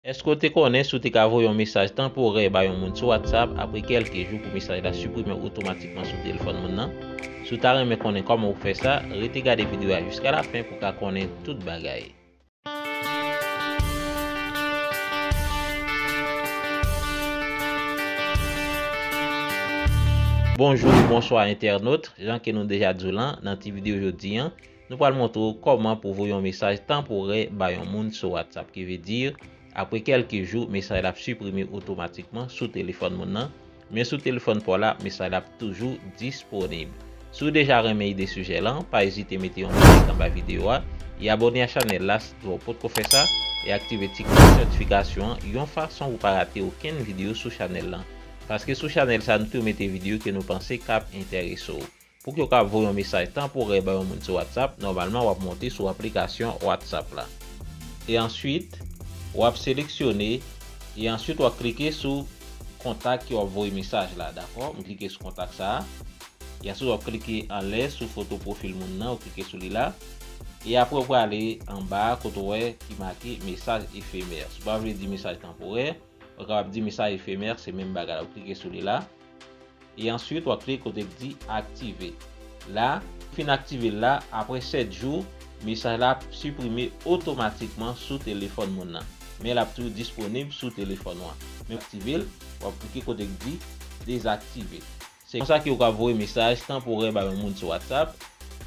Èske w te konnen si w te ka voye yon mesaj tanporè ba yon moun sou WhatsApp, apre kèlke jou pou mesaj la siprime otomatikman sou telefòn moun nan? Si w ta renmen konnen kòman pou w fè sa, rete gade videyo a jiska lafen pou w ka konnen tout bagay. Bonjou ou bonswa entènot, jan ke nou deja di w lan nan ti videyo jodi an, Nou pral montre w kòman pou voye yon mesaj tanporè ba yon moun sou WhatsApp ki vle di apre kèlke jou mesaj la ap siprime otomatikman sou telefòn moun nan men sou telefòn pa w la mesaj la ap toujou disponib. Si w deja renmen ide sijè lan pa ezite mete yon like anba videyo a e abòne a chanèl la si w potko fè sa e aktive ti klòch notifikasyon an yon fason pou pa rate okenn videyo sou chanèl lan paske sou chanèl sa nou toujou mete videyo ke nou panse kap enterese w. Pou yo ka voye yon mesaj tanporè bay yon moun sou WhatsApp, nòmalman wap monte sou aplikasyon WhatsApp la. E answit, wap seleksyone, e answit wap klike sou kontak ke wap voye mesaj la, dakò? M klike sou kontak sa a. E answit wap klike anlè sou foto pwofil moun nan, ou klike sou li la. E apre ou prale anba a kote ou wè ki make mesaj efemè. Si w pa vle di mesaj tanporè, ou kapab di mesaj efemè, se menm bagay la. Ou klike sou li la. E answit wap klike kote k di aktive la, fin aktivel la apre 7 jou mesaj la ap siprime otomatikman sou telefòn moun nan men lap toujou disponib sou telefòn ou an men pou aktivel wap klike kote k di dezaktive. Se konsa ke ou ka voye mesaj tanporè ba yon moun sou WhatsApp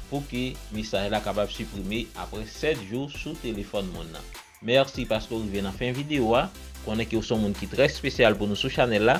pou ke mesaj la kapab siprime apre 7 jou sou telefòn moun nan. Mèsi paske ou rive nan fen video a, konnen ke ou son moun ki trè spesyal pou nou sou chanèl la,